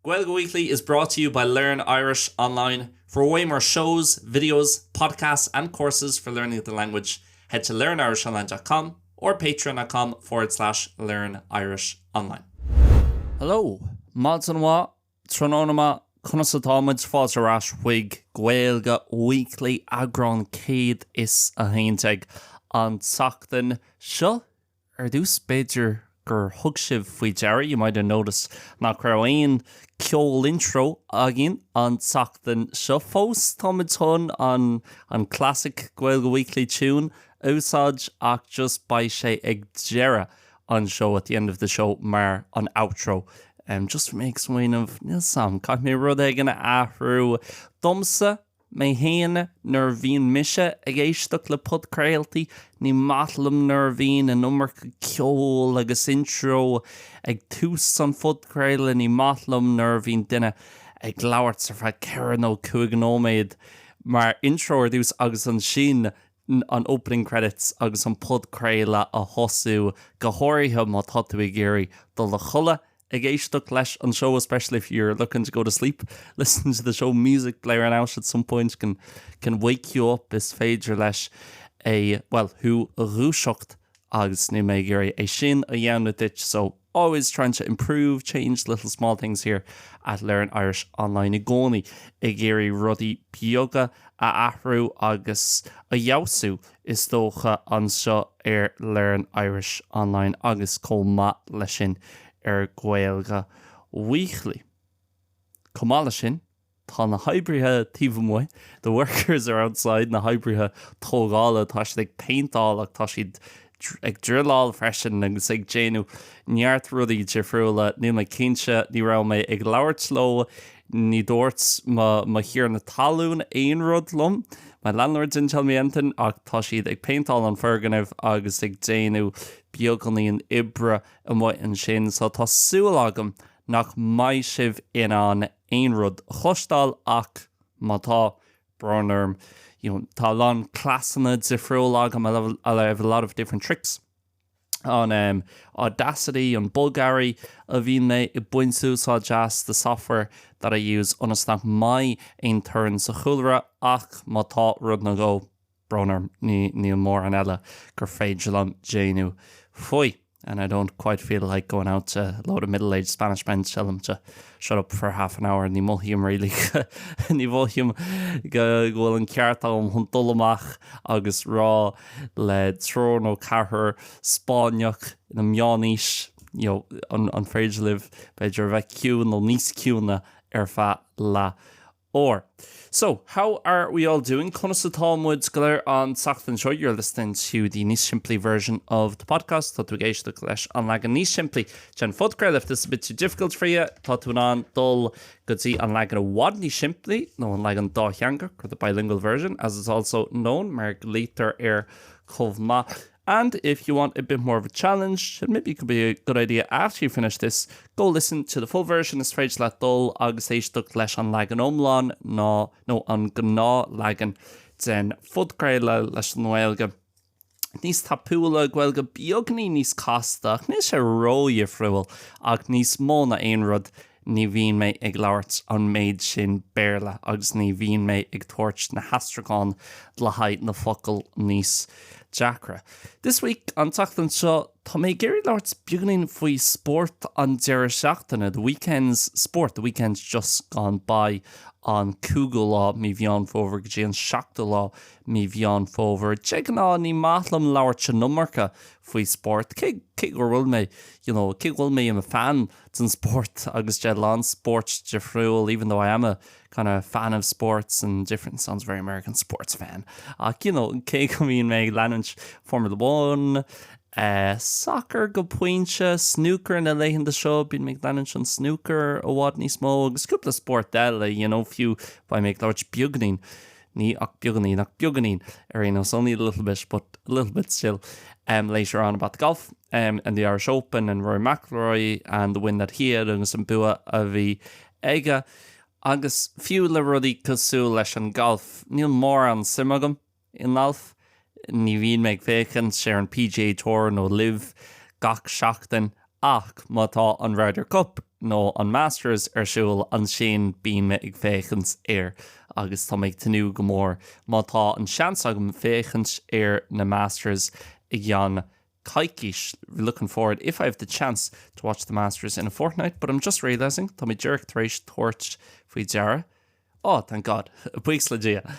Gaeilge Weekly is brought to you by Learn Irish Online, For way more shows, videos, podcasts and courses for learning the language, head to learnirishonline dot com or patreon dot com forward slash learn irish online. Hello! Maidin mhaith, tráthnóna maith, conas atá muid? Fáilte ar ais chuig Gaeilge Weekly, eagrán 111 an tseachtain seo. Ar dtús, b'fhéidir gur thug sibh faoi deara, you might have noticed, nach raibh aon ceol intro againn an tseachtain seo. Fós, táimid chun an an classic Gaeilge Weekly tune a úsáid, ach just beidh sé ag deireadh an seó, at the end of the show, mar an outro. Just bhí mé ag smaoineamh, níl a fhios agam, caithfidh mé rud éigin a athrú domsa! Mé fhéin, nuair a bhíonn mise ag éisteacht le podchraoltaí, ní maith liom nuair a bhíonn an iomarca ceoil agus intro ag tús an phodchraoladh, ní maith liom nuair a bhíonn duine ag labhairt ar feadh ceithre nó cúig nóiméad mar intro ar dtús agus ansin an opening credits agus an podchraoladh a thosú, go háirithe má tá tú ag iarraidh dul a chodladh Ag éisteacht leis an seó especially if you're looking to go to sleep, listening to the show music blaring it out at some point can can wake you up is féidir leis bhuel thú a dhúiseacht agus níl mé ag iarraidh é sin a dhéanamh duit so always trying to improve, change little small things here at Learn Irish Online i gcónaí ag iarraidh rudaí beaga a athrú agus a fheabhsú is dócha, anseo ar Learn Irish Online agus chomh maith leis sin ar Gaeilge Weekly. Chomh maith leis sin, tá na hoibrithe taobh amuigh, the workers are outside, na hoibrithe tógála, tá siad ag péinteáil ach tá siad ag druileáil freisin agus ag déanamh neart rudaí difriúla. Níl mé cinnte, ní raibh mé ag labhairt leo Ní dúirt mo thiarna talún aon rud liom, my landlord didn't tell me anything, ach tá siad ag péinteáil an foirgneamh agus ag déanamh beagáinín oibre amuigh ansin, so tá súil agam nach mbeidh sibh in ann aon rud a chloisteáil ach má tá, brón orm, you know tá a lán cleasanna difriúla agam, I have a lot of different tricks. ar Audacity, an bogearraí a bhíonn mé ag baint úsáid as the software that I use ionas nach mbeidh aon torann sa chúlra ach má tá rud nó dhó, brón orm, níl mórán eile gur féidir liom déanamh faoi and I don't quite feel like going out to a load of middle-aged Spanish men to tell them to shut up for half an hour, ní mhothaím really ní mhothaím go bhfuil an ceart agam chun dul amach agus rá le triúr nó ceathrar Spáinneach ina meánaois you know an féidir libh b'fhéidir a bheith ciúin nó níos ciúine ar feadh leath Or. So, how are we all doing? Conas atá muid go léir an tseachtain seo? You're listening to the Níos Simplí version of the podcast. Tá tú ag éisteacht leis an leagan níos simplí den phodchraoladh. If this is a bit too difficult for you, tá tú in ann dul go dtí an leagan i bhfad níos simplí, nó an leagan dátheangach, or the bilingual version, as it's also known, mar a ghlaoitear air chomh maith. And if you want a bit more of a challenge, maybe it could be a good idea after you finish this, go listen to the full version, is féidir leat dul agus éisteacht leis an leagan iomlán nó, nó an gnáthleagan den phodchraoladh leis an nGaeilge níos tapúla, Gaeilge beagáinín níos casta ach níl sé ródhifriúil ach níos mó ná aon rud Ní bhíonn mé ag labhairt an méid sin Béarla agus ní bhíonn mé ag tabhairt na haistriúcháin le haghaidh na focail níos deacra. This week, an tseachtain seo, tá mé ag iarraidh labhairt beagáinín faoi spórt an deireadh seachtaine. The weekend's sport, the weekend just gone by, an cúigiú lá mí Mheán Fómhair go dtí an seachtú lá mí Mheán Fómhair. De ghnáth, ní maith liom labhairt an iomarca faoi spórt, cé, cé go bhfuil mé, you know, cé go bhfuil mé i'm a fan, den spórt agus de a lán spóirt difriúil even though I am a kind of fan of sports and different sounds very American sports fan ach you know cé go mbíonn mé ag leanúint Formula One eh, soccer go pointe, snooker na laethanta seo, bíonn mé ag leanúint an snooker i bhfad níos mó agus cúpla spórt eile you know fiú beidh mé ag labhairt beagáinín ní ach beagáinín, ach beagáinín ar aon nós only a little bit, but a little bit still um later on about golf um and the Irish Open and Rory McIlroy and the win that he had agus an bua a bhí aige agus fiú le rudaí cosúil leis an golf níl mórán suim agam i ngalf Ní bhíonn mé ag féachaint ar an PGA Tour nó Liv gach seachtain, ach má tá an Ryder Cup nó an Masters ar siúl, ansin bíonn mé ag féachaint air. Agus tá mé ag tnúth go mór, má tá an seans agam, féachaint ar na Masters i gceann coicíse, looking forward if I have the chance to watch the Masters in a fortnight, but I'm just realising, tá mé díreach tar éis tabhairt faoi deara, Oh, thank God. Buíochas le Dia.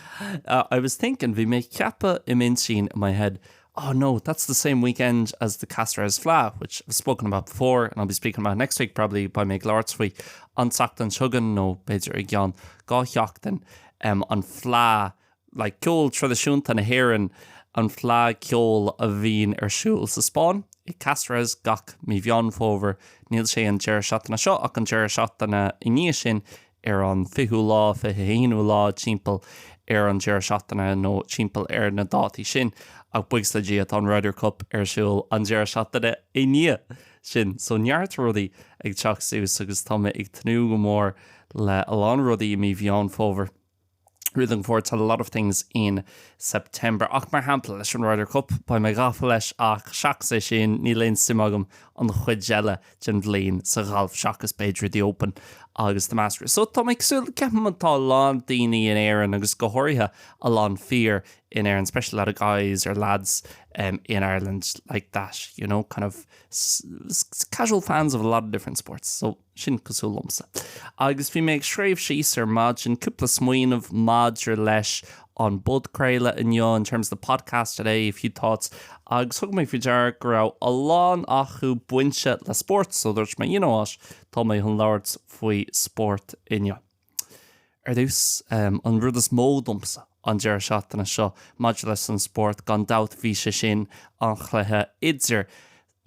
I was thinking, bhí mé ag ceapadh i m'intinn, in my head, oh no, that's the same weekend as the Caceres Fleadh, which I've spoken about before and I'll be speaking about next week probably, beidh mé ag labhairt faoi an tseachtain chugainn, nó b'fhéidir i gceann dhá sheachtain, an fleadh like, ceol traidisiúnta na hÉireann an Fleadh Cheoil a bhíonn ar siúl sa Spáinn, i gCáceres, gach mí Mheán Fómhair, níl sé an deireadh seachtaine seo ach an deireadh seachtaine i ndiaidh sin, ar an 20ú lá, 21ú lá, timpeall ar an deireadh seachtaine nó timpeall ar na dátaí sin, ach buíochas le Dia tá an Ryder Cup ar siúl an deireadh seachtaine i ndiaidh sin, so neart rudaí ag teacht suas agus tá mé ag tnúth go mór le a lán rudaí i mí Mheán Fómhair. We're looking forward to a lot of things in September. Ach mar shampla, leis an Ryder Cup, beidh mé gafa leis ach seachas é sin, níl aon suim agam an chuid eile den bhliain sa ghalf seachas b'fhéidir The Open agus The Masters. So tá mé ag súil, ceapaim tá a lán daoine in Éirinn agus go háirithe a lán fear in Éirinn, especially a lot of guys or lads um, in Ireland like that, you know, kind of casual fans of a lot of different sports. So Sin cosúil liomsa. Agus bhí mé ag scríobh síos ar maidin cúpla smaoineamh maidir leis an bpodchraoladh inniu, in terms of the podcast today, a few thoughts. Agus thug mé faoi deara go raibh a lán acu bainte le spórt, so dúirt mé, you know what, tá mé chun labhairt faoi spórt inniu. Ar dtús, an rud is mó domsa an deireadh seachtaine seo maidir leis an spórt, gan dabht, bhí sé sin an chluiche idir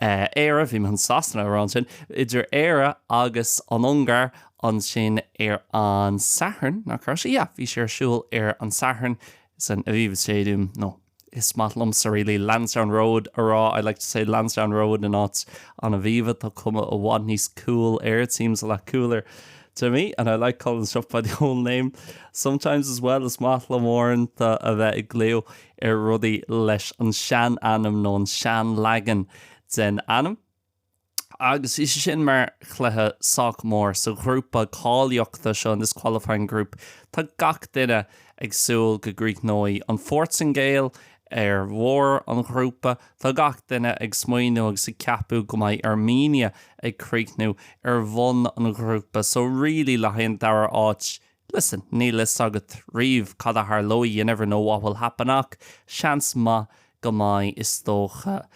Éire, bhí mé chun Sasana a rá ansin, idir Éire agus an Ungáir ansin ar an Satharn, nach raibh sé? Yeah, bhí sé ar siúl ar an Satharn san Aviva Stadium, nó. Is maith liomsa really Lansdowne Road a rá, I like to say Lansdowne Road in áit an Aviva, tá cuma i bhfad níos cool air, it seems a lot cooler to me, and I like calling stuff by the old name sometimes as well, is maith liom uaireanta a bheith ag glaoch ar rudaí leis an sean ainm nó an sean leagan den ainm. agus is é sin mar chluiche sách mór sa ghrúpa cáilíochta seo, in this qualifying group. Tá gach duine ag súil go gcríochnóidh an Phortaingéil ar bharr an ghrúpa, tá gach duine ag smaoiniú agus ag ceapadh go mbeidh Armenia ag críochnú ar bhun an ghrúpa, so really le haghaidh an dara áit, listen, níl fhios agat riamh cad a tharlóidh, you never know what will happen ach seans maith go mbeidh, is dócha.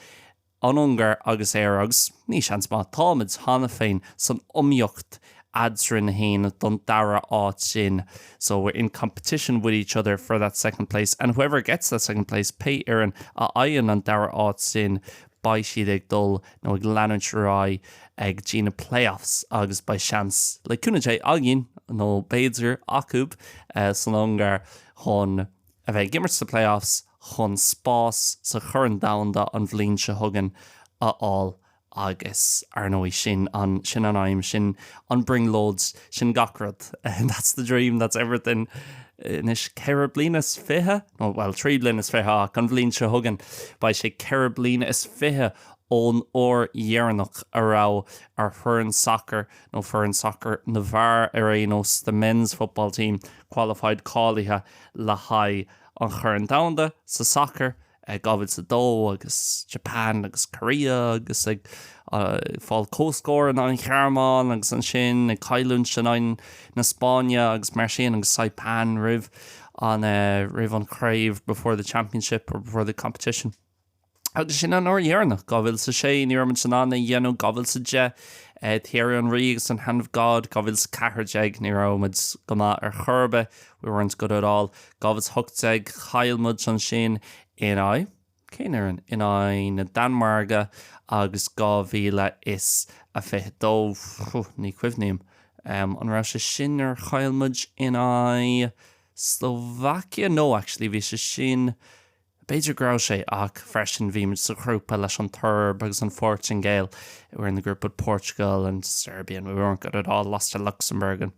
an Ungáir agus Éire, agus ní seans maith, táimid cheana féin san iomaíocht eadrainn féin don dara áit sin, so we're in competition with each other for that second place and whoever gets that second place, pé fhoireann a fhaigheann an dara áit sin, beidh siad ag dul nó ag leanúint ar aghaidh go dtí na playoffs agus beidh seans, le cúnamh Dé, againn, nó b'fhéidir acu, san Ungáir chun a bheith ag imirt sna playoffs. chun spás sa Chorn Domhanda an bhliain seo chugainn a fháil agus, ar ndóigh, sin an, sin an aidhm, sin an brionglóid, sin gach rud, that's the dream, that's everything, anois ceithre bliana is fiche, nó, bhuel, trí bliana is fiche ach an bhliain seo chugainn beidh sé ceithre bliana is fiche ón uair dheireanach a raibh ár foireann sacair, nó foireann sacair na bhfear ar aon nós, the men's football team qualified cáilithe le haghaidh. an Choirn Dhomhanda sa sacar, 2002, agus Japan agus Korea agus ag fáil comhscór in aghaidh an Ghearmáin agus ansin ag cailliúint in aghaidh na Spáinne agus mar sin agus Saipan roimh an roimh an chraobh before the championship or before the competition. agus sin an uair dheireanach, 2006, ní raibh muid in ann é dhéanamh, 2010, Thierry Henry agus an Hand of God, 2014, ní raibh muid go maith ar chor ar bith, we weren't good at all, 2018, chaill muid ansin in aghaidh, cén fhoireann? in aghaidh na Danmhairge, agus 2022, phew, ní chuimhním, an raibh sé sin nuair a chaill muid in aghaidh Slovakia? no, actually, bhí sé sin. B'fhéidir go raibh sé, ach freisin bhí muid sa ghrúpa leis an tSeirb agus an Phortaingéil, we were in the group with Portugal and Serbia and we weren't good at all, lost to Luxembourg and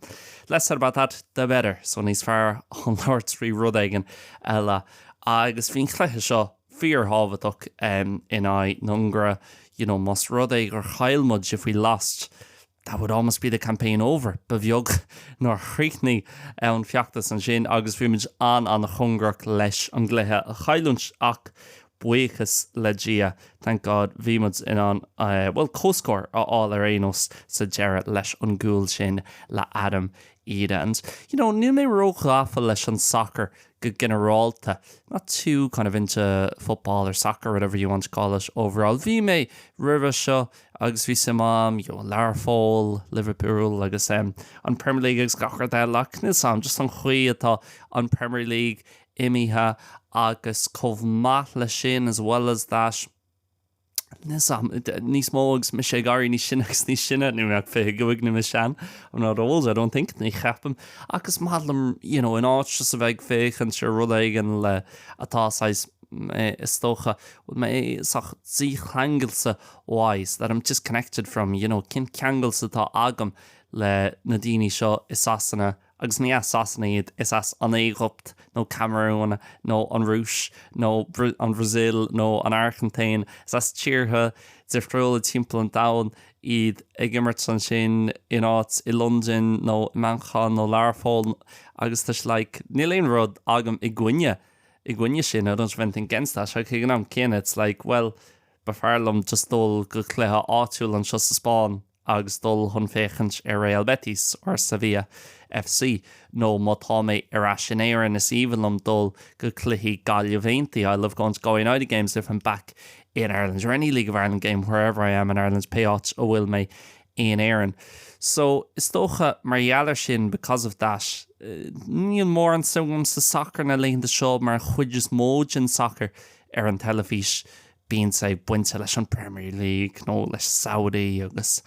less said about that the better, so níos fearr dúinn labhairt faoi rud éigin eile. Agus bhí an cluiche seo fíorthábhachtach in aghaidh na hUngáire, you know más rud é gur chaill muid, if we lost, That would almost be the campaign over, ba bheag nár chríochnaigh an feachtas ansin agus bhí muid an-an-chóngarach leis an gcluiche a chailliúint ach buíochas le Dia, thank God, bhí muid in ann, bhuel, comhscór a fháil ar aon nós sa deireadh leis an gcúl sin le Adam Idah. And, you know, níl mé ró-ghafa leis an sacar go ginearálta, not too kind of into football or soccer, whatever you want to call it, overall. Bhí mé roimhe seo. Agus bhí suim agam, you know, Learpholl, Liverpool agus em an Premier League agus gach rud eile ach níl 's agam, just an chaoi atá an Premier League imithe agus chomh maith le sin, as well as that, níl 's agam, níos mó agus mise ag éirí níos sine agus níos sine, níl mé ach fiche cúig, níl mé sean, I'm not old, I don't think, ní cheapaim, ach is maith liom, you know, in áit just a bheith ag féachaint ar rud éigin le, atá saghas, is dócha, bhfuil mé saghas dícheangailte wise, that I'm disconnected from, you know, cén ceangal atá agam le na daoine seo i Sasana, agus ní as Sasana iad, is as an Éigipt, nó Camarún, nó an Rúis, nó an Bhrasil, nó an Airgintín, is as tíortha difriúla timpeall an domhain iad ag imirt ansin in áit i Londain, nó i Manchain, nó Learpholl, agus tá sé like, níl aon rud agam i gcoinne, i gcoinne sin, I don't have anything against that, ach ag an am céanna, it's like, well, B'fhearr liom just dul go cluiche áitiúil anseo sa Spáinn agus dul chun féachaint ar Real Betis nó Sevilla FC nó má tá mé ar ais in Éirinn is aoibhinn liom dul go cluichí Gaillimh Aontaí, I love going to Galway United games if I'm back in Ireland or any League of Ireland game wherever I am in Ireland, pé áit a bhfuil mé in Éirinn. So, is dócha mar gheall ar sin, because of that, níl mórán suim agam sa sacar na laethanta seo mar an chuid is mó den sacar ar an teilifís bíonn sé ag baint leis an Premier League nó leis Saudi agus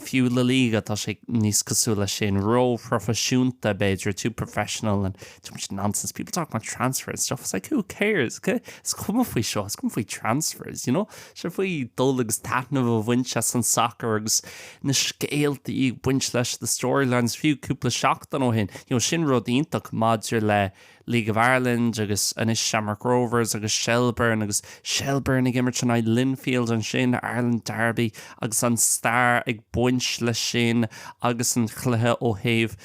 fiú La Liga tá sé níos cosúil leis sin, ró phroifisiúnta b'fhéidir, too professional and too much nonsense, people talk about transfers and stuff, it's like who cares, okay, is cuma faoi seo, is cuma faoi transfers you know, tá sé faoi dul agus taitneamh a bhaint as an sacar agus na scéaltaí ag baint leis, the storylines, fiú cúpla seachtain ó shin you know sin rud iontach maidir le League of Ireland agus anois Shamrock Rovers agus Shelbourne agus Shelbourne ag imirt in aghaidh Linfield an All-Ireland Derby agus an stair ag baint leis sin agus an cluiche ó thaobh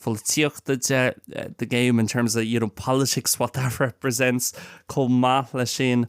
pholaitíochta de, the game in terms of, you know, politics, what that represents, chomh maith leis sin.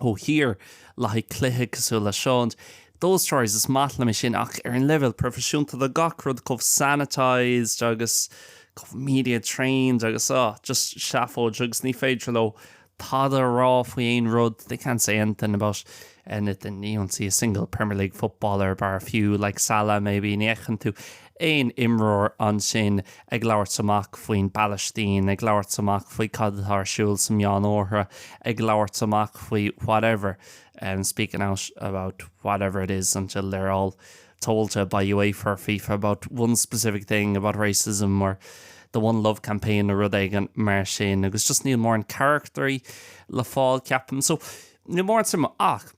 Oh here like cluiche cosúil le seo those stories is maith liom é sin ach ar an leibhéal proifisiúnta tá gach rud chomh sanitised agus chomh media trained agus oh just seafóid agus ní féidir leo tada a rá faoi aon rud they can't say anything about anything you don't see a single Premier League footballer bar a few like Salah maybe ní fheiceann tú aon imreoir ansin ag labhairt amach faoin bPalaistín, ag labhairt amach faoi cad atá ar siúl sa Meánoirthear, ag labhairt amach faoi whatever, speaking out about whatever it is until they're all told to by UEFA or fifa about one specific thing about racism or the One Love campaign nó rud éigin mar sin agus just níl mórán carachtraí le fáil ceapaim so níl mórán suim ach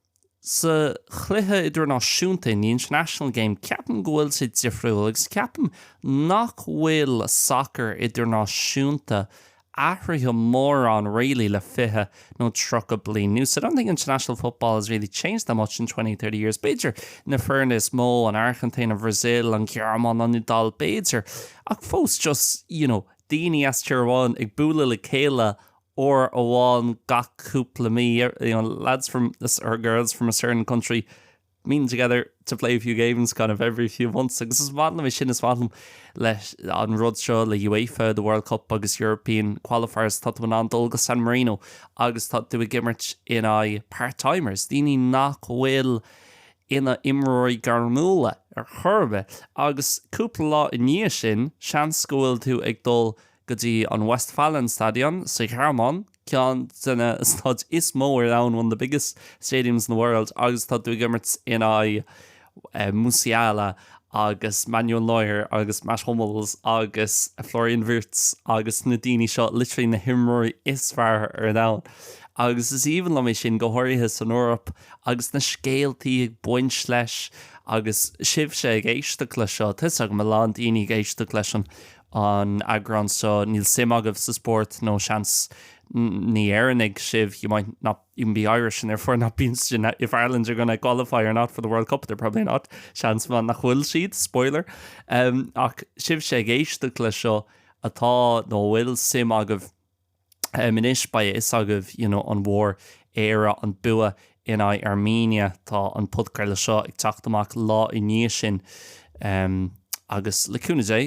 sa chluiche idirnáisiúnta, in the international game, ceapaim go bhfuil sé difriúil agus ceapaim nach bhfuil sacar idirnáisiúnta athraithe mórán really le fiche nó tríocha bliain anuas, I don't think international football has really changed that much in twenty, thirty years. B'fhéidir na foirne is mó, an Airgintín, an Bhrasil, an Ghearmáin, an Iodáil, b'fhéidir, ach fós just, you know, daoine as tír amháin ag bualadh le chéile uair amháin gach cúpla mí or you know lads from or girls from a certain country meeting together to play a few games kind of every few months agus is maith liom é sin is maith liom leis an rud seo le UEFA the World Cup agus European qualifiers tá tú in ann dul go San Marino agus tá tú ag imirt in aghaidh part-timers daoine nach bhfuil ina imreoirí gairmiúla ar chor ar bith agus cúpla lá i ndiaidh sin seans go bhfuil tú ag dul go go dtí an Westfalenstadion sa Ghearmáin, ceann de na staid is mó ar domhan, one of the biggest stadiums in the world, agus tá tú ag imirt in aghaidh Musiala agus Manuel Neuer agus Mats Hummels agus Florian Wirtz agus na daoine seo, literally na himreoirí is fearr ar domhan. Agus is aoibhinn liom é sin, go háirithe san Eoraip agus na scéaltaí ag baint leis agus sibhse ag éisteacht le seo, tá 'fhios agam a lán daoine ag éisteacht leis an an eagrán seo. Níl suim agaibh sa spórt, nó seans ní Éireannaigh sibh, you might not even be Irish and therefore not be interested in if Ireland are gonna qualify or not for the World Cup, they're probably not, seans maith nach bhfuil siad, spoiler! Ach sibhse ag éisteacht le seo atá, nó a bhfuil suim agaibh, Em anois beidh a fhios agaibh you know an bhfuair Éire an bua in aghaidh Armenia, tá an podchraoladh seo ag teacht amach lá i ndiaidh sin em agus le cúnamh Dé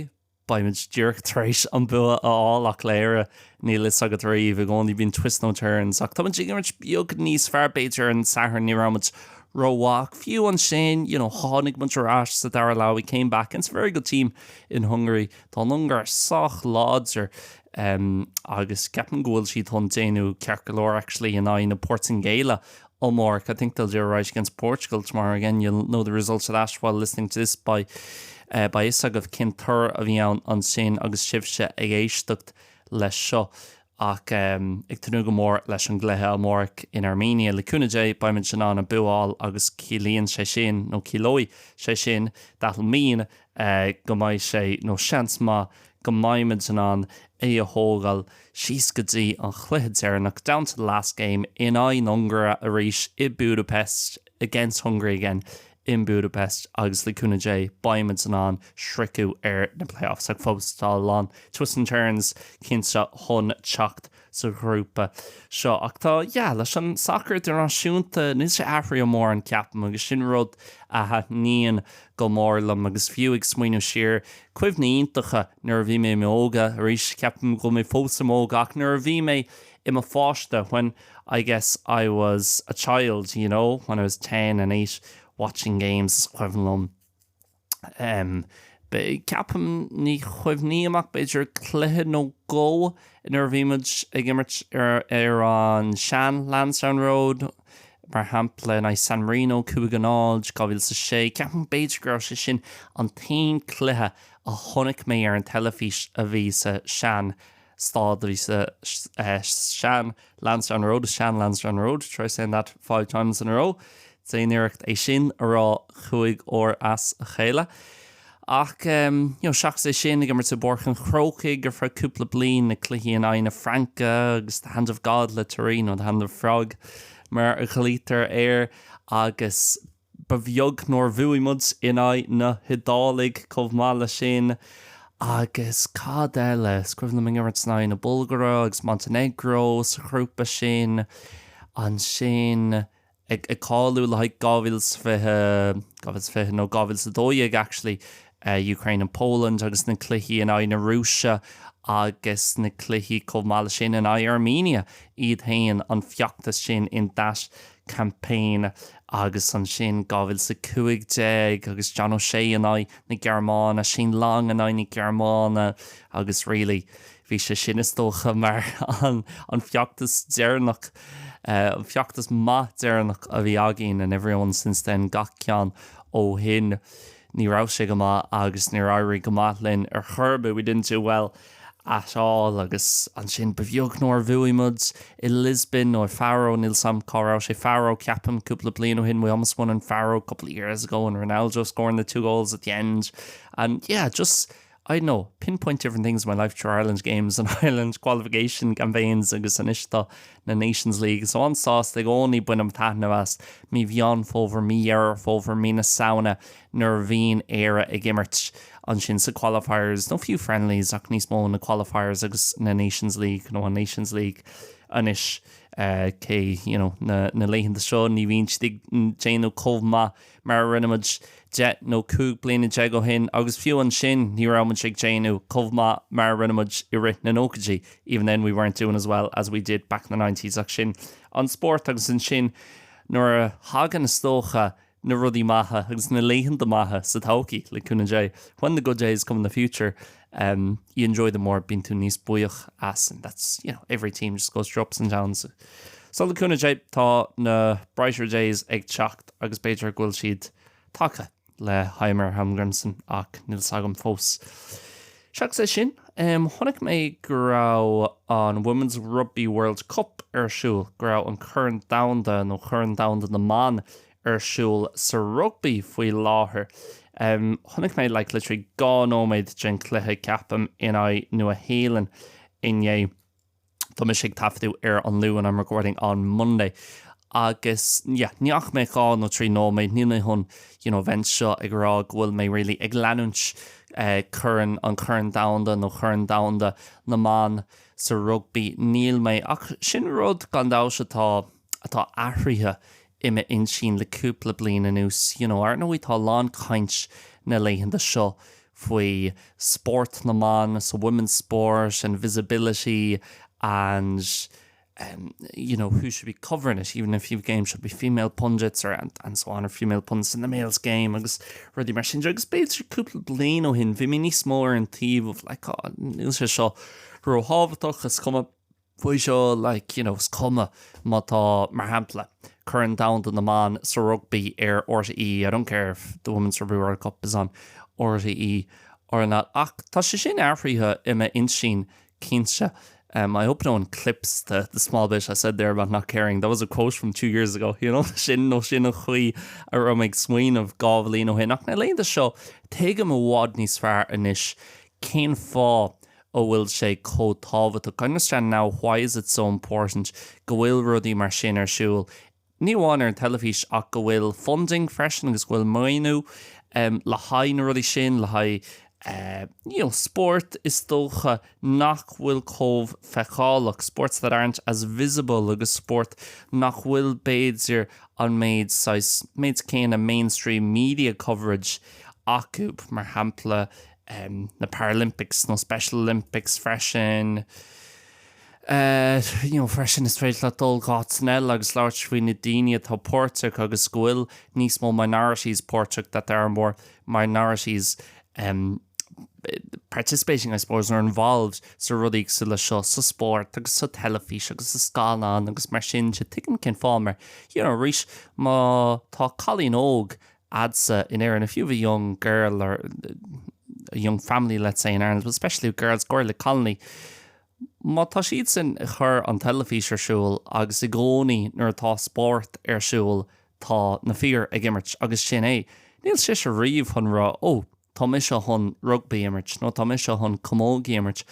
beidh muid díreach tar éis an bua a fháil ach le Éire níl a fhios agat riamh i gcónaí bíonn twists nó turns ach tá muid ag imirt beag níos fearr b'fhéidir ar an Satharn ní raibh muid ró-mhaith ach fiú ansin you know tháinig muid ar ais sa dara leath we came back against a very good team in Hungary tá na hUngáir sách láidir em agus ceapaim go bhfuil siad chun déanamh ceart go leor actually in aghaidh na Portaingéile amáireach I think they'll do alright against Portugal tomorrow again you'll know the result of that while listening to this by eh beidh a fhios agaibh cén toradh a bhí ann ansin agus sibhse ag éisteacht leis seo ach em ag tnúth go mór leis an gcluiche amáireach in Armenia le cúnamh Dé beidh muid in ann an bua a fháil agus ciallaíonn sé sin nó ciallóidh sé sin that'll mean go mbeidh sé, nó seans maith go mbeidh muid in ann é a thógáil síos go dtí an chluiche deireanach, down to the last game, in aghaidh na hUngáire arís i Budapest, against Hungary again in Budapest, agus le cúnamh Dé beidh muid in ann sroicheadh ar na playoffs, ach fós tá a lán twists and turns cinnte chun teacht. sa ghrúpa seo. Ach tá, yeah, leis an sacar idirnáisiúnta, níl sé athraithe mórán, ceapaim, agus sin rud a thaitníonn go mór liom. Agus fiú ag smaoineamh siar, cuimhní iontacha nuair a bhí mé i m'óige, arís, ceapaim go bhfuil mé fós i m'óige, ach nuair a bhí mé i mo pháiste, when, I guess, I was a child, you know, when I was ten and eight, watching games, is cuimhin liom. Ceapaim, ní chuimhním amach b'fhéidir cluiche nó dhó inar bhí muid ag imirt ar an sean Lansdowne Road, mar shampla in aghaidh San Marino 5-0, 2006. Ceapaim b'fhéidir go raibh sé sin an t-aon cluiche a chonaic mé ar an teilifís a bhí sa sean staid a bhí sa sean Lansdowne Road, the sean Lansdowne Road, try saying that five times in a row, déan iarracht é sin a rá cúig uair as a chéile. Ach seachas é sin, ag imirt i bPáirc an Chrócaigh ar feadh cúpla bliain, na cluichí in aghaidh na Fraince agus The Hand of God le Thierry, nó The Hand of Frog mar a ghlaoitear air, agus. Ba bheag nár bhuaigh muid in aghaidh na hIodálaigh chomh maith leis sin. Agus cad eile? Is cuimhin liom ag imirt in aghaidh na Bulgáire agus Montenegro sa ghrúpa sin. Ansin ag cáiliú le haghaidh 2020, 2020 nó 2012 actually, Ukraine and Poland agus na cluichí in aghaidh na Rúise agus na cluichí chomh maith leis sin in aghaidh Armenia iad féin, an feachtas sin in that campaign agus ansin 2015 agus John O'Shea in aghaidh na Gearmáine, Shane Long in aghaidh na Gearmáine agus really bhí sé sin is dócha mar an feachtas deireanach, an feachtas maith deireanach a bhí againn and everyone since then, gach ceann ó shin. Ní raibh sé go maith agus níor éirigh go maith linn ar chor ar bith, we didn't do well at all. Agus ansin ba bheag nár bhuaigh muid i Lisbon nó Faro, níl 's a'm cá raibh sé, Faro ceapaim, cúpla bliain ó shin, we almost won in Faro a couple of years ago and Ronaldo scoring the two goals at the end and yeah, just. I'd pinpoint different things in my life through Ireland games and Ireland qualification campaigns agus anois tá na Nations League so an-sásta i gcónaí bainim taitneamh as mí Mheán Fómhair, mí Dheireadh Fómhair, mí na Samhna nuair a bhíonn Éire ag imirt ansin sa qualifiers nó fiú friendlies ach níos mó na qualifiers agus na Nations League nó an Nations League anois cé, you know, na laethanta seo ní bhíonn siad ag déanamh chomh maith. mar a rinne muid deich nó cúig bliana déag ó shin, agus fiú ansin ní raibh muid ag déanamh chomh maith mar a rinne muid i rith na nóchaidí, even then we weren't doing as well as we did back in the nineties, ach sin an spórt agus ansin nuair a thagann is dócha na rudaí maithe agus na laethanta maithe sa todhchaí, le cúnamh Dé, when the good days come in the future. You enjoy them more, bíonn tú níos buíoch as and that's every team just goes through ups and downs. So le cúnamh Dé tá na brighter days ag teacht agus b'fhéidir go bhfuil siad tagtha le Heimir Hallgrímsson ach níl fhios agam fós. Seachas é sin, chonaic mé go raibh an Women's Rugby World Cup ar siúl, go raibh an Corn Domhanda nó Corn Domhanda na mBan ar siúl sa rugbaí faoi láthair. Chonaic mé like literally dhá nóiméad den chluiche ceapaim in aghaidh Nua-Shéalainn inné. Tá mise ag taifeadadh ar an Luan I'm recording on Monday agus yeah ní fhaca mé dhá nó trí nóiméad níl mé chun you know bheith anseo ag rá go bhfuil mé really ag leanúint eh corn an Corn Domhanda nó Corn Domhanda na mBan sa rugbaí níl mé ach sin rud gan dabht atá atá athraithe i m'intinn le cúpla bliain anuas. You know, ar ndóigh tá a lán caint na laethanta seo faoi spórt na mban, so women's sport and visibility and em you know, who should be covering it, even if a few games should be female pundits or and and so on or female pundits in the males game agus rudaí mar sin. Agus b'fhéidir cúpla bliain ó shin bhí mé níos mó ar an taobh of like oh níl sé seo ró-thábhachtach, is cuma, faoi seo, like, you know, is cuma má tá, mar shampla, Corn Domhanda na mBan sa Rugbaí ar RTÉ, I don't care if the Women's Rugby World Cup is on RTÉ or not, ach tá sé sin athraithe i m'intinn, cinnte. Um, I hope no one clips the, the small bit I said there about not caring, that was a quote from two years ago, you know, sin nó sin an chaoi a raibh mé ag smaoineamh dhá bhliain ó shin, ach na laethanta seo, tuigim i bhfad níos fearr anois cén fáth a bhfuil sé chomh tábhachtach, I understand now why is it so important go bhfuil rudaí mar sin ar siúl, ní amháin ar an teilifís ach go bhfuil funding freisin agus go bhfuil maoiniú le haghaidh na rudaí sin, le haghaidh you know spóirt is dócha nach bhfuil chomh feiceálach, sports that aren't as visible agus spóirt nach bhfuil b'fhéidir an méid saghas, méid céanna mainstream media coverage acu, mar shampla. em na Paralympics nó Special Olympics freisin eh you know freisin is féidir leat dul go háit eile agus labhairt faoi na daoine atá páirteach agus go bhfuil níos mó minorities páirteach that there are more minorities em participating I suppose or involved sna rudaí cosúil le seo sa spórt agus sa teilifís agus sa scannán agus mar sin sea tuigim cén fáth mar you know arís má tá cailín óg agatsa in Éirinn, if you have a young girl or a young family, let's say, in Ireland, but especially with girls, go háirithe le cailíní. Má tá siad sin ag cur an teilifís ar siúl agus i gcónaí nuair atá spórt ar siúl tá na fir ag imirt agus sin é. Níl sise riamh chun rá ó, tá mise chun rugbaí a imirt nó tá mise chun camógaí a imirt.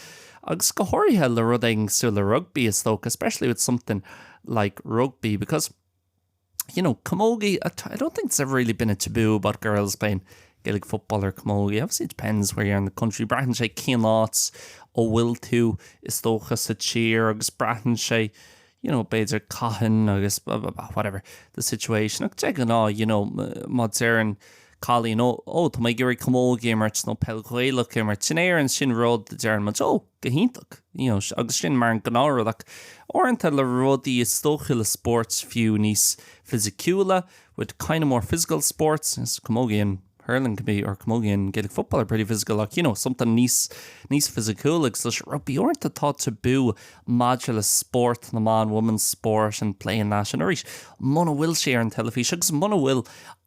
Agus go háirithe le rud éigin cosúil le rugbaí is dócha, especially with something like rugby because. you know, camogie, I don't think it's ever really been a taboo about girls playing Gaelic football or camogie, obviously it depends where you are in the country, braitheann sé cén áit a bhfuil tú, is dócha, sa tír, agus braitheann sé, you know, b'fhéidir cathain agus blah blah blah, whatever the situation, ach de ghnáth, you know, má deireann cailín, oh, oh, tá mé ag iarraidh camogie a imirt nó peil Ghaelach a imirt, in Éirinn sin rud a deireann muid, oh, go hiontach, you know, agus sin mar an gnáth rud ach uaireanta le rudaí is dócha le spóirt fiú níos fisiciúla with kind of more physical sports camogie and hurling can be or camogie and Gaelic football are pretty physical ach you know something níos níos fisiciúla like say rugbaí uaireanta tá tabú maidir le spórt na mban women's sport and playing that and arís muna bhfuil sé ar an teilifís agus muna bhfuil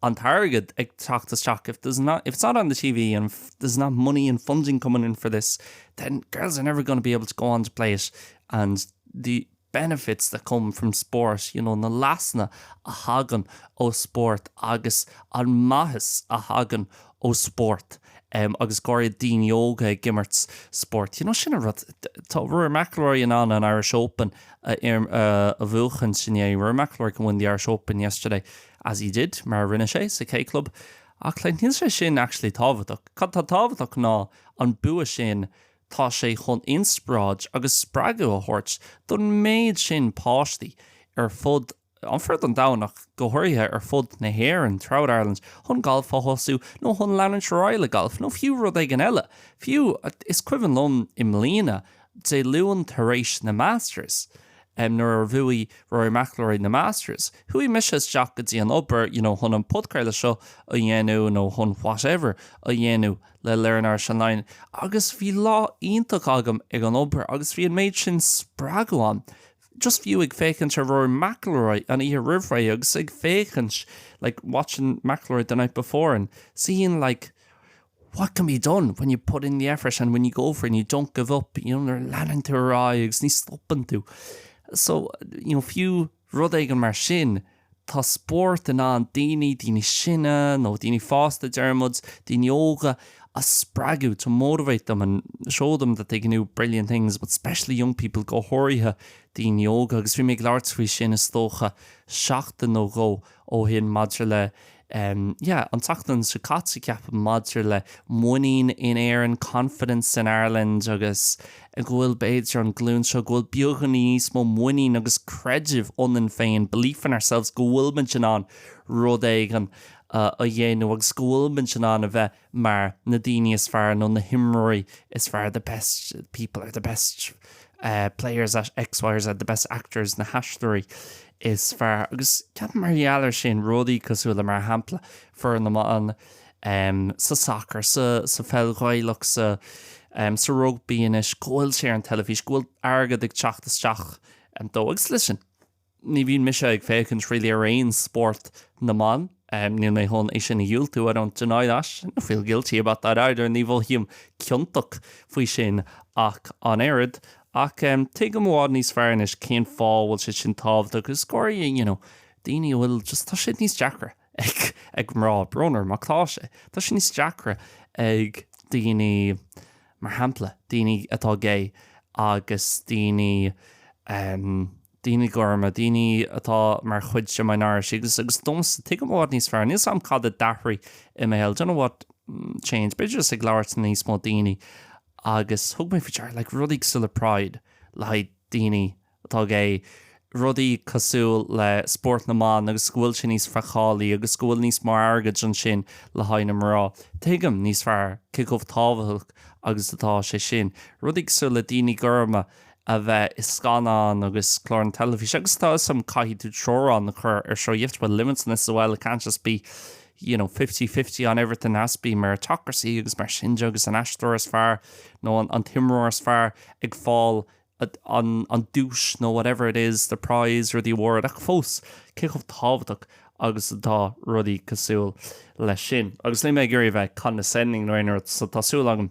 an t-airgead ag teacht isteach if there's not if it's not on the TV and there's not money and funding coming in for this, then girls are never going to be able to go on to play it and the benefits that come from sport, you know na leasanna a thagann ó spórt agus an maitheas a thagann ó spórt em agus go háirid daoine óga ag imirt spóirt you know sin an rud. Tá Rory McIlroy in ann an Irish Open a im a bhuachaint inné Rory McIlroy can win the Irish Open yesterday as he did mar a rinne sé sa K Club Ach níl sé sin actually tábhachtach. Cad tá tábhachtach ná an bua sin, tá sé chun inspioráid agus spreagadh a thabhairt don méid sin páistí ar fud, an fud an domhain ach go háirithe ar fud na hÉireann, throughout Ireland, chun galf a thosú nó chun leanúint ar aghaidh le galf nó fiú rud éigin eile. Fiú, is cuimhin liom i mbliana Dé Luain tar éis na Masters, nuair a bhuaigh Rory McIlroy na Masters, chuaigh mise isteach go dtí an obair, you know, chun an podchraoladh seo a dhéanamh nó chun whatever a dhéanamh le Learn Irish Online agus bhí lá iontach agam ag an obair agus bhí an méid sin spreagadh ann just fiú ag féachaint ar Rory McIlroy an oíche roimh ré agus ag féachaint like watching McIlroy the night before and seeing like What can be done, when you put in the effort and when you go for it and you don't give up, you know, nuair a leanann tú ar aghaidh agus ní stopann tú. So, you know, fiú rud éigin mar sin, tá spórt in ann daoine, daoine sine nó daoine fásta deir muid, daoine óga, a spreagadh, to motivate them and show them that they can do brilliant things, but especially young people, go háirithe daoine óga. Agus bhí mé ag labhairt faoi sin is dócha seachtain nó dhó ó shin maidir le yeah an tseachtain seo caite ceapaim maidir le muinín in Éirinn confidence in Ireland agus go bhfuil b'fhéidir an glúin seo go bhfuil beagáinín níos mó muinín agus creideamh ionainn féin belief in ourselves go bhfuilimid in ann rud éigin a dhéanamh agus go bhfuilimid in ann a bheith mar na daoine is fearr nó na himreoirí is fearr the best people or the best players at X, Y or Z the best actors na haisteoirí is fearr agus ceapaim mar gheall ar sin rudaí cosúil le mar shampla foireann na mban sa sacar, sa pheil ghaelach, sa sa rugbaí anois go bhfuil sé ar an teilifís, go bhfuil airgead ag teacht isteach dó agus leis sin. ní bhíonn mise ag féachaint really ar aon spórt na mban, níl mé chun é sin a dhiúltú, I don't deny that, I don't feel guilty about that either, ní mhothaím ciontach faoi sin ach an oiread, ach tuigim i bhfad níos fearr anois cén fáth a bhfuil sé sin tábhachtach agus go háirithe you know daoine a bhfuil just tá sé níos deacra ag ag mná, brón orm ach tá sé, tá sé níos deacra ag daoine mar shampla daoine atá gay agus daoine. daoine gorma, daoine atá mar chuid de minority agus agus domsa, tuigim i bhfad níos fearr, níl 's a'm cad a d'athraigh i mo shaol, dunno what changed, b'fhéidir just ag labhairt le níos mó daoine agus thug mé faoi deara like rudaí cosúil le pride le haghaidh daoine atá gay, rudaí cosúil le spórt na mban agus go bhfuil sé níos feiceálaí agus go bhfuil níos mó airgid ansin le haghaidh na mná, tuigim níos fearr cé chomh tábhachtach agus atá sé sin, rudaí cosúil le daoine gorma. a bheith i scannáin agus cláir na teilifíse agus tá 'fhios a'm caithfidh tú teorainn a chur ar seo, you have to put limits on this as well, it can't just be you know fifty fifty on everything, it has to be meritocracy agus mar sin de agus an aisteoir is fearr nó an an t-imreoir is fearr ag fáil an an duais nó whatever it is, the prize or the award ach fós cé chomh tábhachtach agus atá rudaí cosúil leis sin agus níl mé ag iarraidh a bheith condescending nó aon rud so tá súil agam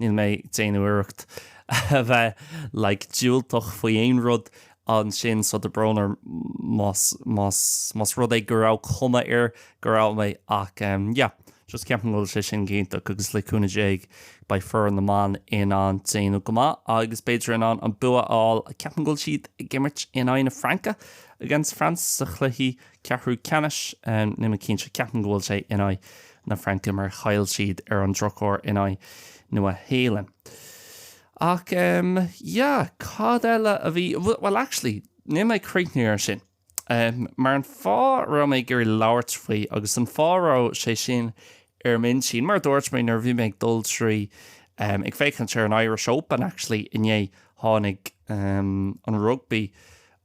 Níl mé ag déanamh iarracht a bheith like diúltach faoi aon rud ansin so tá brón orm más más más rud é go raibh cuma air go raibh mé ach em yeah just ceapaim go bhfuil sé sin go hiontach agus le cúnamh Dé beidh foireann na mban in ann déanamh go maith agus b'fhéidir in ann an bua a fháil ceapaim go bhfuil siad ag imirt in aghaidh na Fraince against France sa chluichí ceathrú ceannais. Níl mé cinnte, ceapaim go bhfuil sé in aghaidh na Fraince mar chaill siad ar an drochuair in aghaidh Nua Shéalainn. Ach em yeah, cad eile a bhí, bhuel actually níl mé ag críochnú ar sin. Em mar an fáth a raibh mé ag iarraidh labhairt faoi agus an fáth a raibh sé sin ar m'intinn, mar a dúirt mé nuair a bhí mé ag dul trí em ag féachaint ar an Irish Open actually inné tháinig em an rugbaí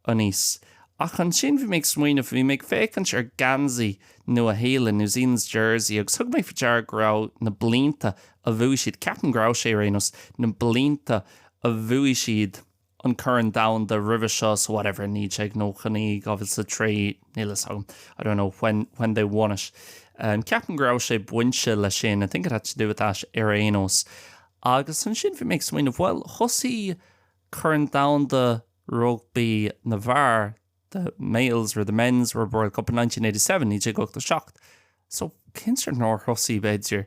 aníos. Ach ansin bhí mé ag smaoineamh, bhí mé ag féachaint ar gheansaí Nua Shéalainn, New Zealand's Jersey, agus thug mé faoi deara go raibh na blianta a bhuaigh siad, ceapaim go raibh sé ar aon nós, na blianta a bhuaigh siad an Corn Domhanda roimhe seo, so whatever, 1999, 2003, níl a fhios agam, I don't know when when they won it, ceapaim go raibh sé bainte le sin, I think it had to do with that ar aon nós. Agus ansin bhí mé ag smaoineamh, bhuel, thosaigh Corn Domhanda. Rugbaí na bhFear the males or the men's World Cup in 1987 1987 so cinnte nár thosaigh b'fhéidir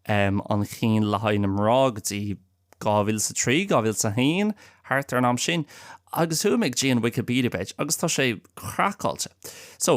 an chinn le haghaidh na mná go dtí 2003 2001 thart ar an am sin agus chuaigh mé go dtí an Wikipedia page agus tá sé craiceáilte so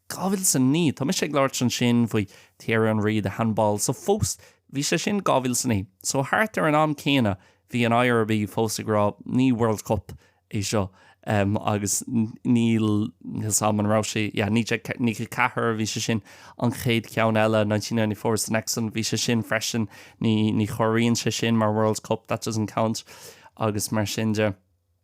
2009. Tá mise ag labhairt ansin faoi Thierry Henry the handball so fós bhí sé sin 2009 so thart ar an am céanna bhí an IRB fós ag rá ní World Cup é seo em agus níl a fhios agam an raibh sé yeah 1994 bhí sé sin an chéad cheann eile 1994 was the next one bhí sé sin freisin ní ní chomhaireann sé sin mar World Cup that doesn't count agus mar sin de.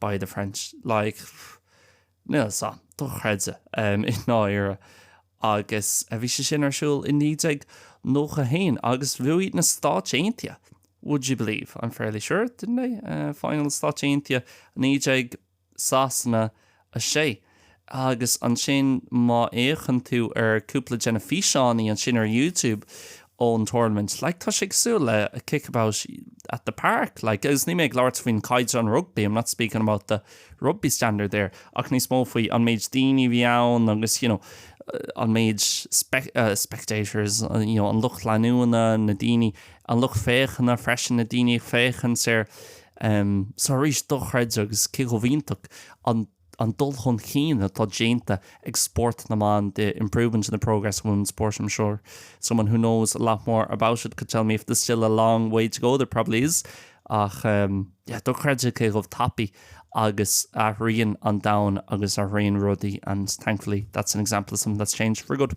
By the French, like, níl a fhios agam, dochreidte, i ndáiríre. Agus bhí sé sin ar siúl i 1991 agus bhuaigh na Stáit Aontaithe, would you believe, I'm fairly sure, didn't they? final Stáit Aontaithe 19 Sasana 6. Agus ansin má fhéachann tú ar cúpla de na físeáin ansin ar YouTube ón tournament, like tá sé cosúil le a kickabout at the park, like agus níl mé ag labhairt faoin caighdeán rugbaí, I'm not speaking about the rugby standard there, ach níos mó faoi an méid daoine a bhí ann agus you know an méid spectators you know an lucht leanúna, na daoine, an lucht féachana freisin, na daoine ag féachaint ar, em, so arís dochreidte agus cé chomh iontach. an dul chun chinn atá déanta ag spórt na mban the improvement in the progress of women's sport i'm sure someone who knows a lot more about it could tell me if there's still a long way to go there probably is ach yeah dochreidte cé chomh tapaidh agus athraíonn an domhan agus athraíonn rudaí and thankfully that's an example of something that's changed for good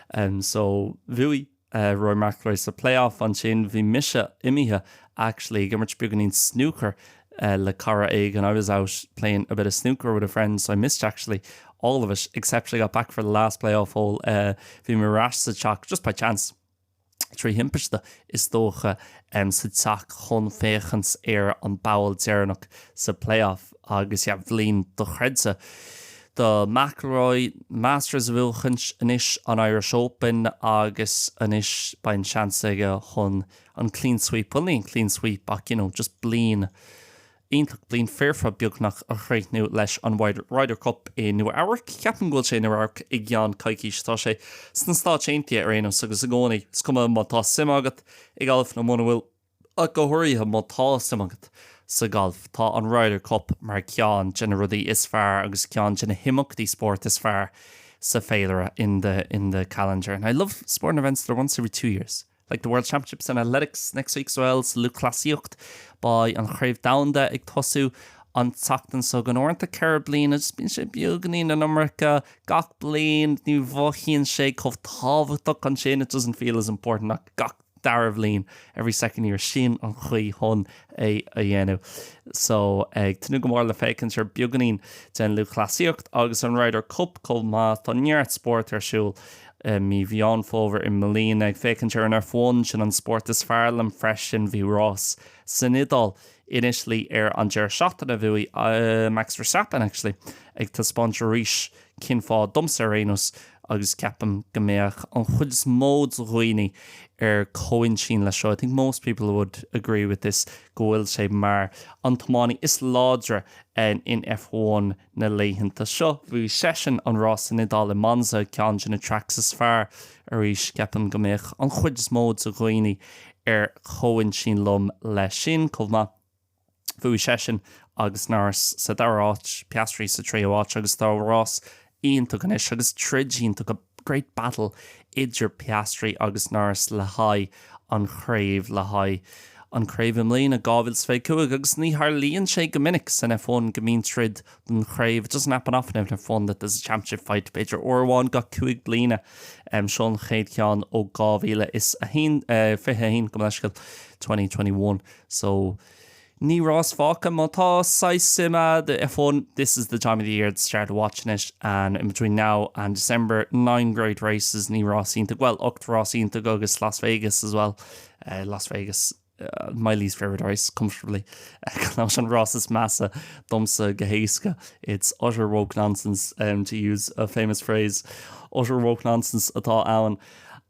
em so bhuaigh eh Rory McIlroy sa playoff ansin bhí mise imithe actually ag imirt beagáinín snúcair eh le cara éigin I was out playing a bit of snooker with a friend so I missed actually all of it except I got back for the last playoff hole eh bhí mé ar ais sa teach just by chance trí thimpiste, is dócha, sa teach chun féachaint ar an bpoll deireanach sa play-off agus yeah, bliain dochreidte do McIlroy, Masters a bhuachaint, anois an Irish Open agus anois beidh an seans aige chun an clean sweep, well ní an clean sweep ach you know just bliain iontach bliain foirfe beagnach a chríochnú leis an Ryder Cup i Nua Eabhrac. Ceapaim go bhfuil sé i Nua Eabhrac i gceann coicíse. Tá sé sna Stáit Aontaithe ar aon nós agus i gcónaí, is cuma má tá suim agat i galf nó muna bhfuil, ach go háirithe má tá suim agat sa ghalf, tá an Ryder Cup mar ceann de na rudaí is fearr agus ceann de na himeachtaí spóirt is fearr sa féilire in the in the calendar and I love sporting events that are once every two years. Like the World Championships in athletics next week as well, sa lúthchleasaíocht beidh an Chraobh Domhanda ag tosú an tseachtain seo chugainn. Uaireanta ceithre bliana, agus bíonn sé beagáinín an iomarca gach bliain, ní mhothaíonn sé chomh tábhachtach ansin, it doesn't feel as important ach gach dara bhliain, every second year, sin an chaoi chun é a dhéanamh. So ag tnúth go mór le féachaint ar beagáinín den lúthchleasaíocht agus an Ryder Cup chomh maith, tá neart spórt ar siúl. I mí Mheán Fómhair i mbliana, ag féachaint ar an F1, sin an spórt is fearr liom freisin, bhí rás san Iodáil, in Italy ar an deireadh seachtaine a bhuaigh Max Verstappen actually, ag taispeáint arís cén fáth, domsa ar aon nós, agus ceapaim go mbeadh an chuid is mó de dhaoine ar comhaintinn leis seo, I think most people would agree with this, go bhfuil sé mar an tiománaí is láidre in F1. na laethanta seo. Bhuaigh seisean an rás san Iodáil i Monza, ceann de na tracks is fearr arís. Ceapaim go mbeadh an chuid is mó de dhaoine ar comhintinn liom leis sin chomh maith. Bhuaigh seisean agus Norris sa dara áit, Piastri sa tríú áit agus tá rás iontach anois agus troid iontach Great Battle idir Piastri agus Norris le haghaidh an chraobh le haghaidh an chraobh i mbliana, 2025, agus ní tharlaíonn sé go minic san F1 go mbíonn troid don chraobh It doesn't happen often in F1 that there's a championship fight b'fhéidir uair amháin gach cúig bliana seo an chéad cheann ó 2021 gabh mo leithscéal 2021 so Ní rás fágtha má tá saghas suim a'd i fun, this is the time of the year to start watching it and in between now and December, nine great races, ní rás iontach, bhuel, ocht rás iontach agus Las Vegas as well, Las Vegas, my least favourite race, comfortably, gan amhras an rás is measa domsa go héasca, it's utter woke nonsense, to use a famous phrase, utter woke nonsense atá ann.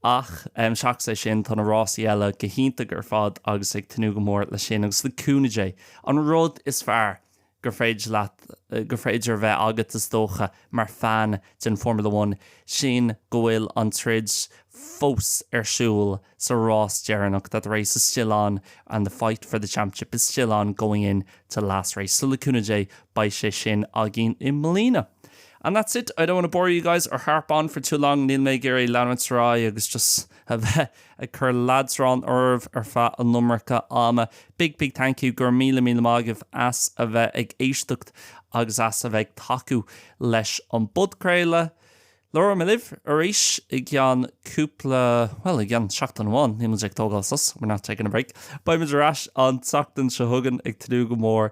Ach seachas é sin, tá na rásaí eile go hiontach ar fad agus ag tnúth go mór leis sin agus le cúnamh Dé, an rud is fearr gur, gur féidir a bheith agat is dócha mar fan den Formula One, sin go bhfuil an troid fós ar siúl sa rás deireanach, that the race is still on and the fight for the championship is still on going into the last race. So le cúnamh Dé beidh sé sin againn i mbliana. And that's it, I don't want to bore you guys or harp on for too long, níl mé ag iarraidh leanúint ar aghaidh agus just a bheith ag cur leadrán oraibh ar feadh an iomarca ama. Big, big thank you, go raibh míle, míle maith agaibh as a bheith ag éisteacht agus as a bheith ag tacú leis an bpodchraoladh. Labhróidh mé libh arís i gceann cúpla, bhuel, i gceann seachtain amháin, níl muid ag tógáil sos, we're not taking a break. Beidh muid ar ais an tseachtain seo chugainn, ag tnúth go mór